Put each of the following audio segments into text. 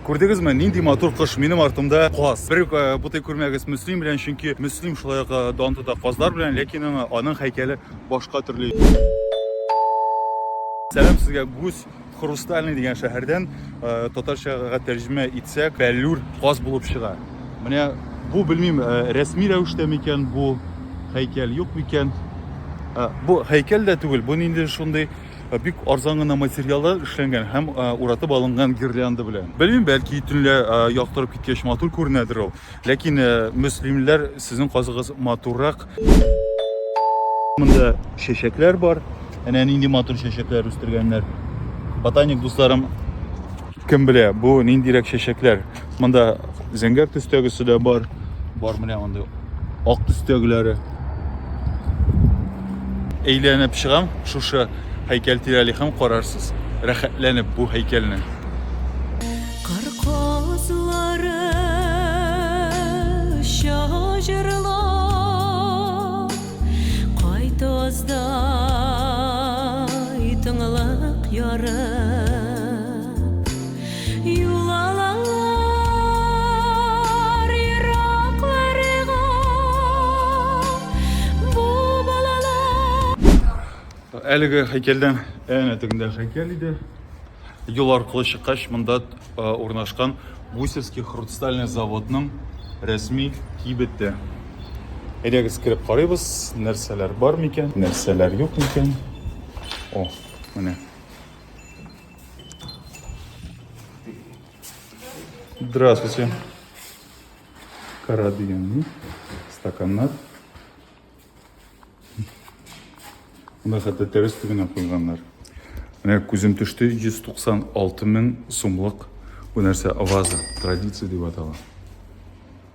Күрдегезме, нинди матур кош минем артымда каз. Бер э, бутый күрмәгез Мөслим белән, чөнки Мөслим шулай ук э, дан тота казлар белән, ләкин аңа аның һәйкәле башка төрле. Сәлам сезгә гүз Хрустальный дигән шәһәрдән э, татарчага тәрҗемә итсәк, бәллүр каз булып чыга. Менә бу белмим, рәсми рәвештә микән бу һәйкәл, юк микән? Бу һәйкәл дә түгел, бу нинди шундый э, бик арзан гына материаллар эшләнгән һәм э, уратып алынган гирлянда белән. Белмим, бәлки төнлә э, яктырып киткәч матур күренәдер ул. Ләкин мөслимләр сезнең казыгыз матуррак. Монда чәчәкләр бар. Әнә нинди матур чәчәкләр үстергәннәр. Ботаник дусларым кем белә, бу ниндирәк чәчәкләр. Монда зәңгәр төстәгесе дә бар. Бар менә анда ак төстәгеләре. Әйләнеп чыгам, шушы һәйкәл тирәли һәм карарсыз. Рәхәтләнеп бу һәйкәлне. Кар казлары шаҗырлап, кайтозда итыңлык яры. Юл алалар еракларга бу балалар. Әлеге һәйкәлдән әнә тегендә һәйкәл иде. Юл аркылы чыккач, монда урнашкан Гусевский хрустальный заводның рәсми кибете. Әйдәгез кереп карыйбыз, нәрсәләр бар микән, нәрсәләр юк микән. О, менә. Здравствуйте. Карадыяны, стаканнар. Мына хәтта тәрәз төбенә куйганнар. Менә күзем төште 196 мең сумлык бу нәрсә ваза, традиция дип атала.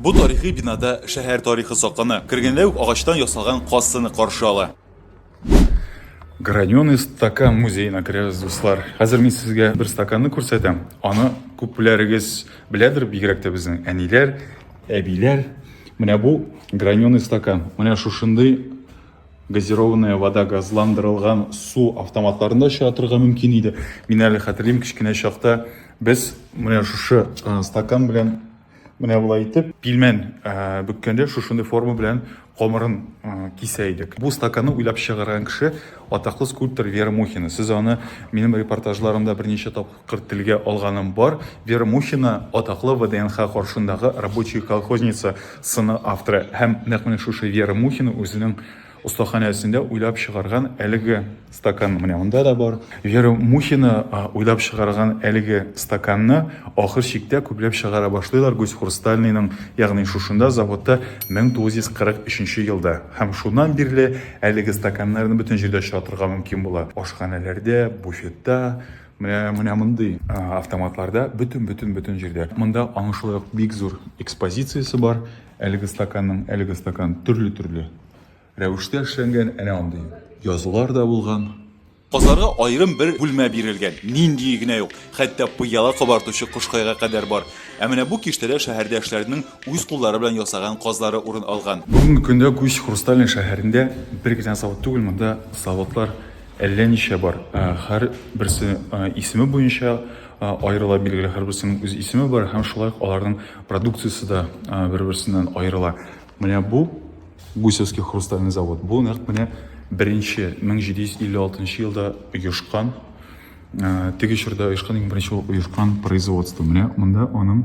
Бу тарихи бинада шәһәр тарихы саклана. Кергәндә үк агачтан ясалган каз сыны каршы ала. Граненый стакан музеена керәбез, дуслар. Хәзер мин сезгә бер стаканны күрсәтәм. Аны күпләрегез беләдер, бигрәк тә безнең әниләр, әбиләр. Менә бу граненый стакан. Менә шушындый Газированная вода, газландырылган су автоматларын да очратырга мөмкин иде. Мин әле хәтерлим, кечкенә чакта без менә шушы стакан белән менә болай итеп пилмән бөккәндә шушындый форма белән камырын кисә идек. Бу стаканны уйлап чыгарган кеше атаклы скульптор Вера Мухина. Сез аны минем репортажларымда берничә тапкыр Тапкыр телгә алганым бар, Вера Мухина, атаклы ВДНХ каршындагы Рабочая колхозница сыны авторы. Һәм нәкъ менә шушы Вера Мухина үзенең остаханәсендә уйлап чыгарган әлеге стакан менә монда да бар. Вера Мухина уйлап чыгарган әлеге стаканны ахыр чиктә күпләп чыгара башлыйлар Гусьхрустальныйның, ягъни шушында, заводта 1943 елда. Һәм шуннан бирле әлеге стаканнарны бөтен җирдә очратырга мөмкин була. Ашханәләрдә, буфетта, Менә менә мондый автоматларда бөтен бөтен бөтен җирдә. Монда аның шулай ук бик зур экспозициясе бар. Әлеге стаканның, әлеге стакан төрле-төрле рәвештә эшләнгән. Әнә андый язулар да булган. Казларга аерым бер бүлмә бирелгән. Ниндие генә юк. Хәтта пыяла кабартучы кошкайга кадәр бар. Ә менә бу киштәдә шәһәрдәшләренең үз куллары белән ясаган казлары урын алган. Бүгенге көндә Күч хрустальный шәһәрендә бер генә завод түгел, монда заводлар Әллә ничә бар. Хәр берсе исеме буенча аерыла, билгеле, һәрберсенең үз исеме бар һәм шулай ук аларның продукциясе дә бер-берсеннән аерыла. Менә бу Гусевский хрустальный завод. Бу нәкъ менә беренче 1756 елда оешкан Теге чорда оешкан иң беренче булып оешкан производство. Менә монда аның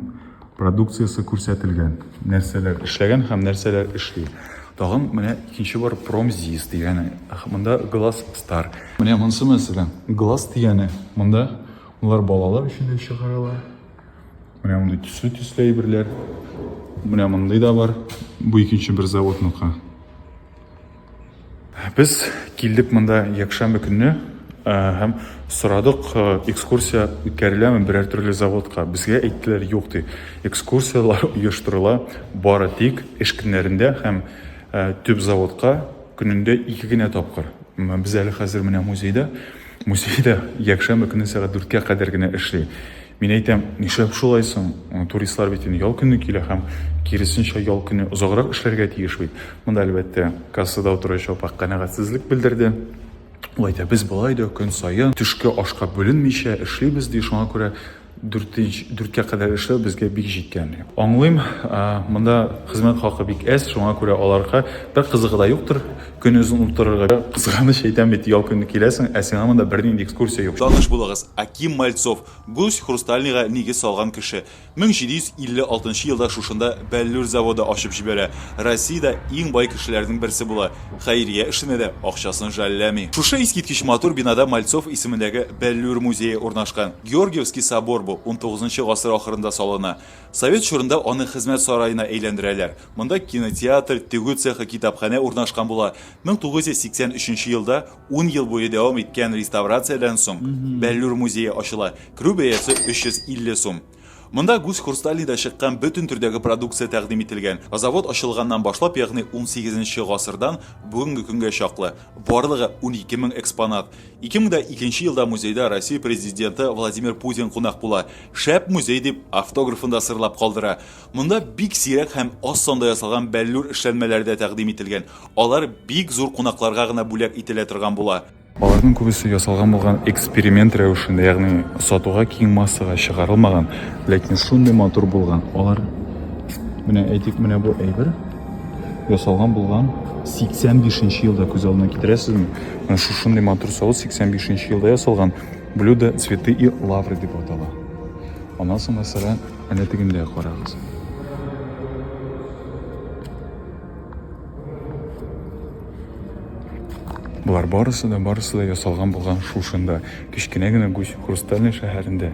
продукциясе күрсәтелгән. Нәрсәләр эшләгән һәм нәрсәләр эшли. Тагын менә икенче бар Промзис дигәне. Монда Glass Star. Менә монысы мәсәлән Glass дигәне. Монда улар балалар өчен дә чыгаралар. Менә мондый төсле төсле әйберләр. Менә мондый да бар. Бу икенче бер заводныкы. Без килдек монда якшәмбе көнне һәм сорадык, экскурсия үткәреләме берәр төрле заводка. Безгә әйттеләр, юк ди. Экскурсияләр оештырыла бары тик эш көннәрендә һәм төп заводка көнендә ике генә тапкыр. Без әле хәзер менә музейда. Музей дә якшәмбе көнне сәгать дүрткә кадәр генә эшли. Мин әйтәм, нишләп шулай соң? Туристлар бит инде ял көне килә һәм киресенчә ял көне озаграк эшләргә тиеш бит. Монда, әлбәттә, кассада утыручы апа канәгатьсезлек белдерде. Ул әйтә, без болай да көн саен төшке ашка бүленмичә эшлибез, ди, шуңа күрә дүрткә кадәр эшләү безгә бик җиткән. Аңлыйм, монда хезмәт хакы бик әз, шуңа күрә аларга бер кызыгы да юктыр. Көнозын уттырырга кирәк. Кызганыч әйтәм бит, ял көнне киләсең, ә сиңа монда бернинди экскурсия юк. Таныш булыгыз, Аким Мальцов, Гусь Хрустальныйга нигез салган кеше. 1756 нчы елда шушында бәллүр заводы ачып җибәрә, Россиядә иң бай кешеләрнең берсе була, хәйрия эшенә дә акчасын жәлләми. Шушы искиткеч матур бинада Мальцов исемендәге бәллүр музее урнашкан. Георгиевский собор бу, унтугызынчы гасыр ахырында салына. Совет чорында аны хезмәт сараена әйләндерәләр. Монда кинотеатр, тегү цехы, китапханә урнашкан була. 1983 елда ун ел буе дәвам иткән реставрациядән соң Бәллүр музее ачыла. Керү бәясе 350 сум. Монда гусь хрустальныйда чыккан бөтен төрдәге продукция тәкъдим ителгән. Завод ачылганнан башлап, ягъни унсигез нче гасырдан бүгенге көнгә чаклы, барлыгы унике мең экспонат. Ике мең дә икенче елда музейда Россия Президенты Владимир Путин кунак була. Шәп музей, дип, автографын да сырлап калдыра. Монда бик сирәк һәм аз санда ясалган бәллүр эшләнмәләре дә тәкъдим ителгән. Алар бик зур кунакларга гына бүләк ителә торган була. Аларның күбесе ясалган булган эксперимент рәвешендә, ягъни сатуга киң массага чыгарылмаган, ләкин шундый матур булган. Алар менә әйтик, менә бу әйбер ясалган булган 85 нче елда күз алдына китерәсезме? Менә шушындый матур савыт 85 нче елда ясалган блюдо цветы и лавры дип атала. Аннан соң, мәсәлән, Әнә тегендә карагыз. Болар барысы да, барысы да ясалган булган шушында, кечкенә генә Гусь Хрустальный шәһәрендә.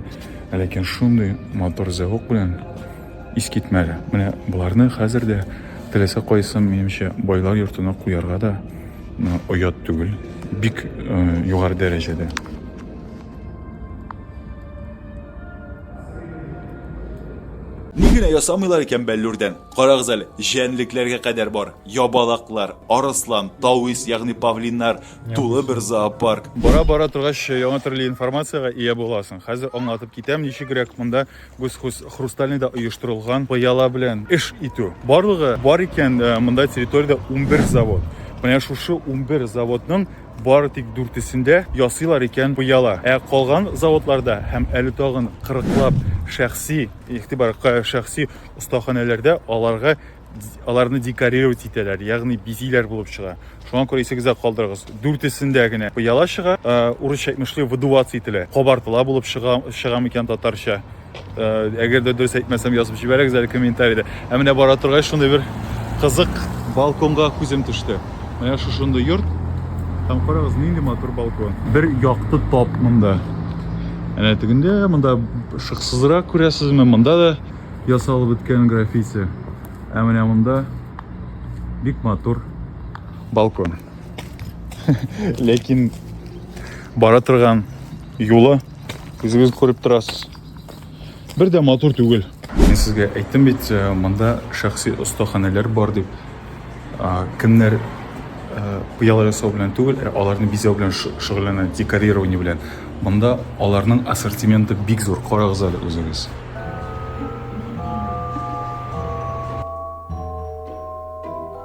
Ләкин шундый матур зәвык белән искитмәле. Менә боларны хәзер дә теләсә кайсын, минемчә, байлар йортына куярга да оят түгел. Бик э, югары дәрәҗәдә. Ни генә ясамыйлар икән бәллүрдән. Карагыз әле, җәнлекләргә кадәр бар. Ябалаклар, арыслан, тавис, ягъни павлиннар, тулы бер зоопарк. Бара-бара торгач, яңа төрле информациягә ия буласың. Хәзер аңлатып китәм, ничегрәк монда Гусхус Хрустальныйда оештырылган пыяла белән эш итү. Барлыгы бар икән э, монда территориядә 11 завод. Менә шушы 11 заводның Бары тик дүртесендә ясыйлар икән пыяла. Ә калган заводларда һәм әле тагын кырыклап шәхси, игътибар, шәхси остаханәләрдә аларга аларны декорировать итәләр, ягъни бизиләр булып чыга. Шуңа күрә исегездә калдырыгыз. Дүртесендә генә пыяла чыга, урысча әйтмешли, выдуваться ителә. Кабартыла булып чыга, чыга микән татарча? Э, әгәр дә дөрес әйтмәсәм язып җибәрегез әле комментарийда ә менә бара торгач шундый бер кызык балконга күзем төште менә шушындый йорт һәм карагыз нинди матур балкон бер якты тап монда әнә тегендә монда шыксызрак күрәсезме монда да ясалып беткән граффити ә менә монда бик матур балкон ләкин бара торган юлы Үзегез күреп торасыз. Бер дә матур түгел. Мин сезгә әйттем бит, э, монда шәхси остаханәләр бар дип. Кемнәр э, пыяла ясау белән түгел, ә аларны бизәү белән шөгыльләнә, декорирование белән. Монда аларның ассортименты бик зур. Карагыз әле үзегез.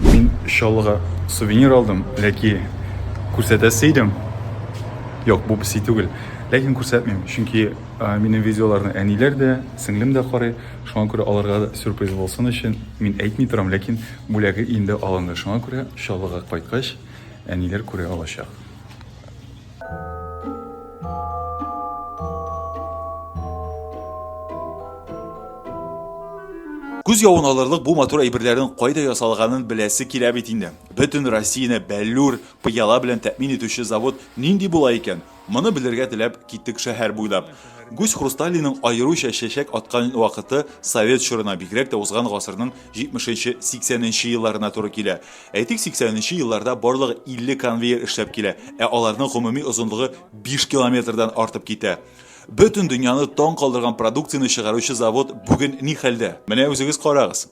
Мин Чаллыга сувенир алдым, ләки күрсәтәсе идем. Юк, бу песи түгел. Ләкин күрсәтмим, чөнки минем видеоларны әниләр дә, сеңлем дә карый. Шуңа күрә аларга да сюрприз булсын өчен мин әйтми торам, ләкин бүләге инде алынды. Шуңа күрә Чаллыга кайткач, әниләр күрә алачак. Күз явын алырлык бу матур әйберләрнең кайда ясалганын беләсе килә бит инде. Бөтен Россияне бәллүр, пыяла белән тәэмин итүче завод нинди була икән? Моны белергә теләп киттек шәһәр буйлап. Гусь Хрусталийның аеруча чәчәк аткан вакыты совет чорына, бигрәк тә узган гасырның 70 нче 80 нче елларына туры килә. Әйтик, 80 нче елларда барлыгы 50 конвейер эшләп килә, ә аларның гомуми озынлыгы 5 километрдан артып китә. Бөтен дөньяны таң калдырган продукцияне чыгаручы завод бүген ни хәлдә? Менә үзегез карагыз.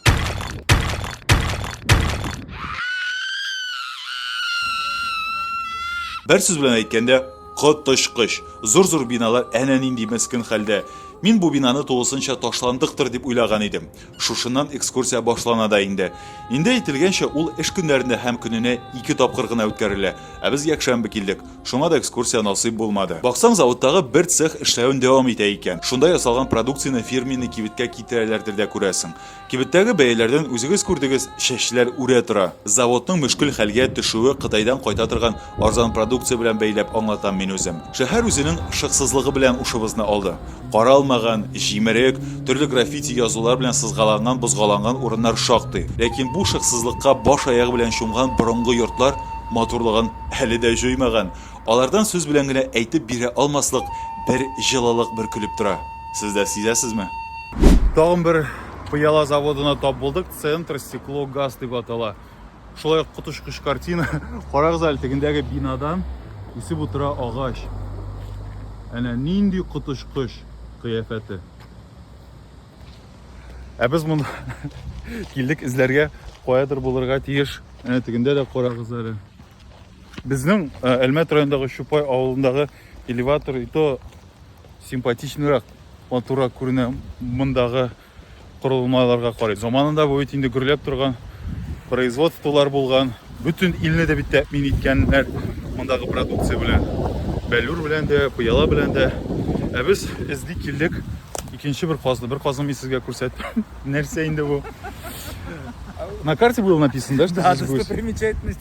Бер сүз белән әйткәндә, коточкыч. Зур-зур биналар әнә нинди мескен хәлдә. Мин бу бинаны тулысынча ташландыктыр дип уйлаган идем. Шушыннан экскурсия башлана да инде. Инде әйтелгәнчә, ул эш көннәрендә һәм көненә ике тапкыр гына үткәрелә. Ә без якшәмбе килдек, шуңа да экскурсия насыйп булмады. Баксаң, заводтагы бер цех эшләвен дәвам итә икән. Шунда ясалган продукцияне фирменный кибеткә китерәләрдер дә күрәсең. Кибеттәге бәяләрдән үзегез күрдегез, чәчләр үрә тора. Заводның мөшкел хәлгә төшүе Кытайдан кайта торган арзан продукция белән бәйләп аңлатам мин үзем. Шәһәр үзенең шыксызлыгы белән ушыбызны алды. Каралмаган, җимерек, төрле граффити язулар белән сызгаланган-бозгаланган урыннар шактый. Ләкин бу шыксызлыкка баш-аягы белән чумган борынгы йортлар матурлыгын әле дә җуймаган. Алардан сүз белән генә әйтеп бирә алмаслык бер җылылык бөркелеп тора. Сез дә сизәсезме? Тагын бер пыяла заводына тап булдык, Центр стекло газ дип атала. Шулай ук коточкыч картина. Карагыз әле тегендәге бинадан үсеп утыра агач. Әнә нинди коточкыч кыяфәте. Ә без моны килдек эзләргә, каядыр булырга тиеш. Әнә тегендә дә карагыз әле. Безнең э, Әлмәт районындагы Чупай авылындагы элеватор и то симпатичныйрак матуррак күренә мондагы корылмаларга карый. Заманында бу бит инде гөрләп торган производстволар булган. Бөтен илне дә бит тәэмин иткәннәр мондагы продукция белән. Бәллүр белән дә, Пыяла белән дә. Ә без эзли килдек икенче бер казны. Бер казны мин сезгә күрсәттем. Нәрсә инде бу? На карте было написано, да, что здесь гусь? Достопримечательность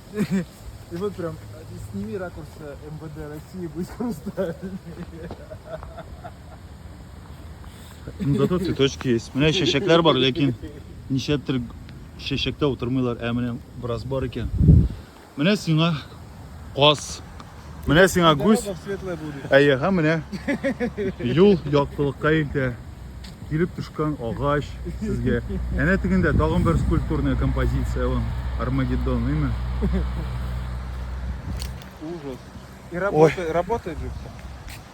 И вот прям сними ракурс э, МВД России, будет хрусталь. Ну, зато цветочки есть. Менә чәчәкләр бар, ләкин ничәдер чәчәктә утырмыйлар, ә менә бераз бар икән. Менә сиңа каз. Менә сиңа гүз. Әйе, һәм менә юл яктылыкка илтә. Килеп төшкән агач сезгә. Әнә тегендә тагын бер скульптурная композиция ул. Армагеддон, имя? Ужас. И работает, работает же все.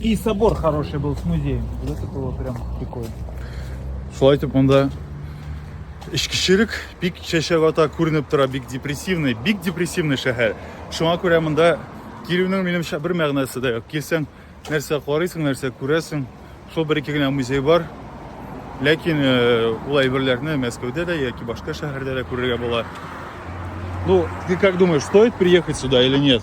И собор хороший был с музеем. Вот это было прям прикольно. Шулай итеп монда эчкечелек бик чәчәк ата күренеп тора, бик депрессивный, бик депрессивный шәһәр. Шуңа күрә монда килүнең минемчә бер мәгънәсе дә юк. Килсәң, нәрсә карыйсың, нәрсә күрәсең. Шул бер ике генә музей бар. Ләкин э, ул әйберләрне Мәскәүдә дә яки башка шәһәрдә дә күрергә була. Ну, ты как думаешь, стоит приехать сюда или нет?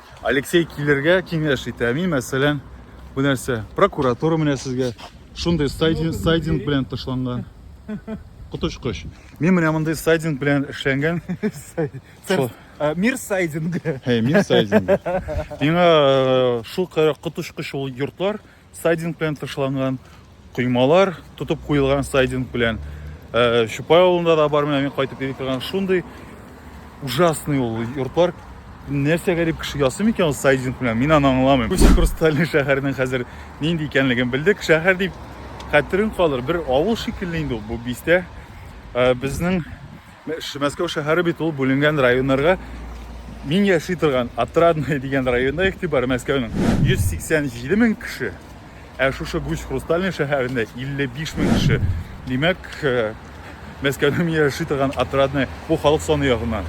Алексей килергә киңәш итә. Мин, мәсәлән, бу нәрсә прокуратура менә сезгә шундый сайдинг, сайдинг белән тышланган. Коточкыч. Мин менә мондый сайдинг белән эшләнгән. Э, мир сайдинга. Мир сайдинга. Миңа э, шул коточкыч ул йортлар Сайдинг белән тышланган коймалар, тотып куелган сайдинг белән. Э, Чупай авылында да бар, менә мин кайтып йөри торган шундый ужасный ул йортлар. Нәрсә гәрәп кеше ясый микән ул сайдинг белән? Мин аны аңламыйм. Үз Хрустальный шәһәрнең хәзер нинди икәнлеген белдек. Шәһәр дип хәтерең калыр, бер авыл шикелле инде ул бу бистә. Э, Безнең Мәскәү шәһәре бит ул бүленгән районнарга. Мин яши торган Отрадное дигән районда игътибар Мәскәүнең 187 мең кеше, ә шушы Гусь Хрустальный шәһәрендә 55 мең кеше. Димәк, э, Мәскәүнең мин яши торган Отрадное бу халык саны ягыннан.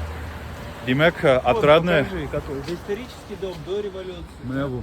Димәк, э, Отрадное... Исторический дом до революции. Менә бу.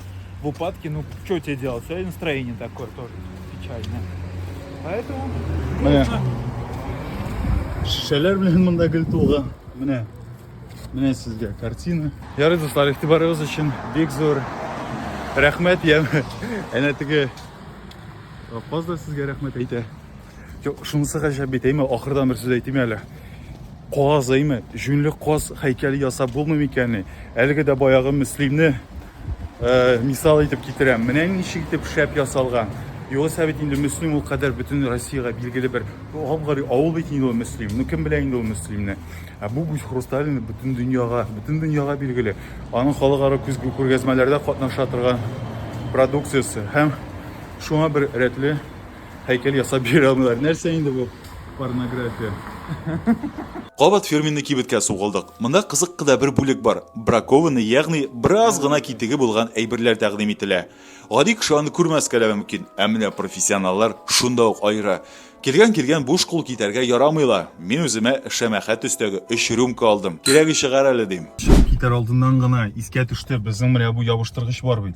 в упадке, ну что тебе делать? Сегодня настроение такое тоже печальное. Поэтому Менә. нужно Шешәләр белән монда гел тулган. Менә. Менә сезгә картина. Ярый, дуслар, игътибарыгыз өчен бик зур рәхмәт. Я әнә теге каз да сезгә рәхмәт әйтә. Юк, шунысы гаҗәп бит, әйме, ахырдан бер сүз әйтим әле. Каз, әйме, җүнле каз һәйкәле ясап булмый микәнни? Әлеге дә баягы Мөслимне э, мисал итеп китерәм. Менә ничек итеп шәп ясалган. Югыйсә бит инде Мөслим ул кадәр бөтен Россиягә билгеле бер гап-гори авыл бит инде ул Мөслим. Ну кем белә инде ул Мөслимне? Ә бу Гүз Хрусталин бөтен дөньяга, бөтен дөньяга билгеле. Аның халыкара күзгә күргәзмәләрдә катнаша торган продукциясе һәм шуңа бер рәтле Һәйкәл ясап бирә алмыйлар. Нәрсә инде бу порнография? Кабат фирменный кибеткә сугылдык. Монда кызык кыда бер бүлек бар. Бракованный, ягъни бераз гына китеге булган әйберләр тәкъдим ителә. Гади кеше аны күрмәскә дә мөмкин, ә менә профессионаллар шунда ук аера. Килгән-килгән буш кул китәргә ярамый ла. Мин үземә шәмәхә төстәге өч рюмка алдым. Кирәге чыгар әле, дим. Чыгып китәр алдыннан гына искә төште, безнең менә бу ябыштыргыч бар бит.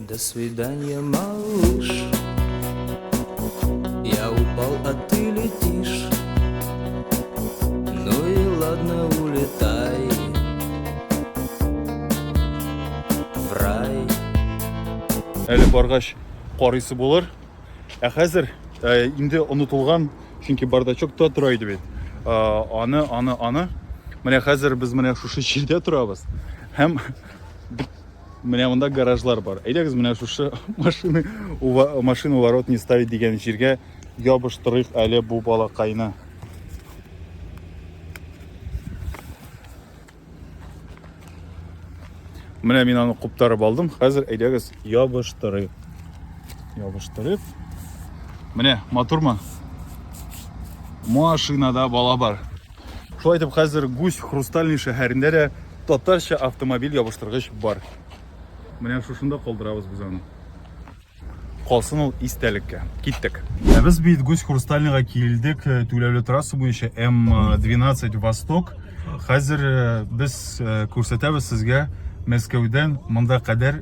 До свидания, малыш, я упал, а ты летишь. Ну и ладно, улетай в рай. Әле баргач карыйсы булыр. Ә хәзер э, инде онытылган, чөнки бардачок та тора иде бит. Э, аны, аны, аны. Менә хәзер без менә шушы җирдә торабыз. Һәм Менә монда гаражлар бар. Әйдәгез менә шушы машины машина ворот не ставить дигән җиргә ябыштырыйк әле бу балакайны. Менә мин аны куптарып алдым. Хәзер әйдәгез ябыштырыйк. Ябыштырып. Менә матурмы? Машинада бала бар. Шулай итеп, хәзер Гусь хрустальный шәһәрендә дә татарча автомобиль ябыштыргыч бар. Менә шушында калдырабыз без аны. Калсын ул истәлеккә. Киттек. Ә без бит Гусь хрустальныйга килдек, э, түләүле трасса буенча М12 э, Восток. Хәзер э, без күрсәтәбез сезгә Мәскәүдән монда кадәр